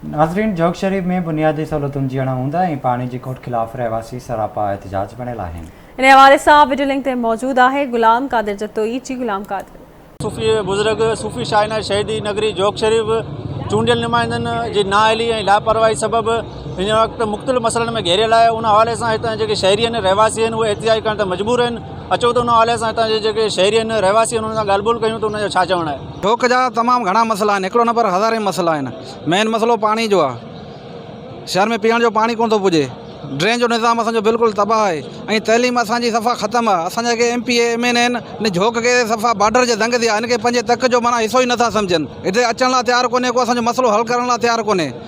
ناظرين جوڳ شريف ۾ بنيادي سهولتن جي اڻ هوند ۽ پاڻي جي کوٽ خلاف رهواسي سراپا احتجاج بڻيل آهن. انهي حوالي سان وڊيو لنڪ تي موجود آهي غلام قادر جتوئي جي غلام قادر. صوفي بزرگ صوفي شاهيناز شهيدي نگري جوڳ شريف چونڊيل نمائندن جي نااهلي ۽ لاپرواهي سبب هن وقت مختلف مسئلن ۾ گهيريل آهي ان حوالي سان هتان جي جيڪي شهري آهن رهواسي آهن اهي احتجاج ڪرڻ تي مجبور آهن اچو ته ان حوالي سان هتان جي جيڪي شهري آهن رهواسي آهن انهن سان ڳالهه ٻولهه ڪيون ته انهن جو ڇا چوڻ آهي. ڍوڪ جا تمام گهڻا مسئلا آهن هڪڙو نه پر هزارين مسئلا آهن مين مسئلو پاڻي جو آهي شهر ۾ پيئڻ جو پاڻي ڪونه ٿو پڄي ڊرين جو نظام اسان جو بلڪل تباهه آهي ۽ تعليم اسان جي صفا ختم آهي اسان جا M P A M N A آهن ان جهوڪ کي صفا باڊر جي دنگ تي آهن ان کي پنهنجي تڪ جو معنيٰ حصو ئي نه ٿا سمجهن هتي اچڻ لاء تيار ڪونهي ڪو اسان جو مسئلو حل ڪرڻ لاء تيار ڪونهي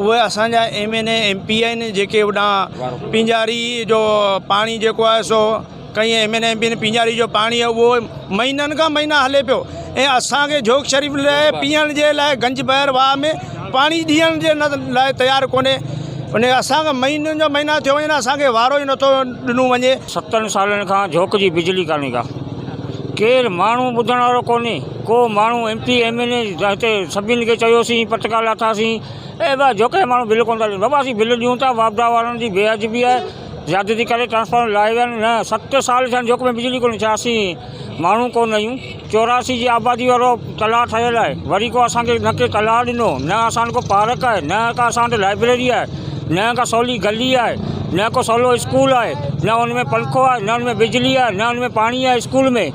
اهي اسان جا M N A M P آهن جيڪي هوڏانهن پينجاري جو پاڻي جيڪو آهي سو ڪئين M N A M P پينجاري جو پاڻي اهو مهينن کان مهينا هلي پيو ۽ اسانکي جوڪ شريف لاء پيئڻ جي لاء گنج بحر واهه ۾ پاڻي ڏيئڻ جي لاء تيار ڪونهي ان اسانکي مهينن جا مهينا ٿيو وڃن اسانکي وارو ئي نٿو ڏنو وڃي ستن سالن کان جوڪ جي بجلي ڪانهي ڪا ڪير ماڻهو ٻڌڻ وارو ڪونهي ڪو ماڻهو M P M N A هتي سڀني کي چيوسين پٽڪا لاٿاسين اي بابا جو ڪنهن ماڻهو بل ڪونه ٿا ڏين بابا اسين بل ڏيون ٿا واپڊا وارن جي بي ادبي آهي زيادتي ڪري ٽرانسفارمر لائي ويا آهن نه ست سال ٿيا آهن جوک ۾ بجلي ڪونهي ڇا اسين ماڻهو ڪونه آهيون چوراسي جي آبادي وارو تلاء ٺهيل آهي وري ڪو اسان کي نه ڪي تلاء ڏنو نه اسان وٽ ڪو پارڪ آهي نه ڪا اسان وٽ لائبريري آهي نه ڪا سولي گلي آهي نه ڪو سولو اسڪول آهي نه ان ۾ پنکو آهي نه ان ۾ بجلي آهي نه ان ۾ پاڻي آهي اسڪول ۾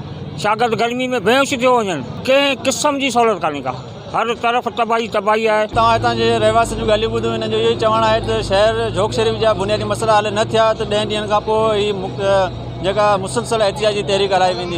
شاگرد گرمي ۾ بيهوش ٿيو وڃن، ڪنهن قسم جي سهولت ڪانهي ڪا، هر طرف تباهي ئي تباهي آهي. توهان هتان جي رهواسين جون ڳالهيون ٻڌون، انهن جو اهو ئي چوڻ آهي ته شهر جھوڪ شريف جا بنيادي مسئلا حل نه ٿيا ته ڏهن ڏينهن کانپوء ئي جيڪا مسلسل احتجاجي تحريڪ هلائي ويندي،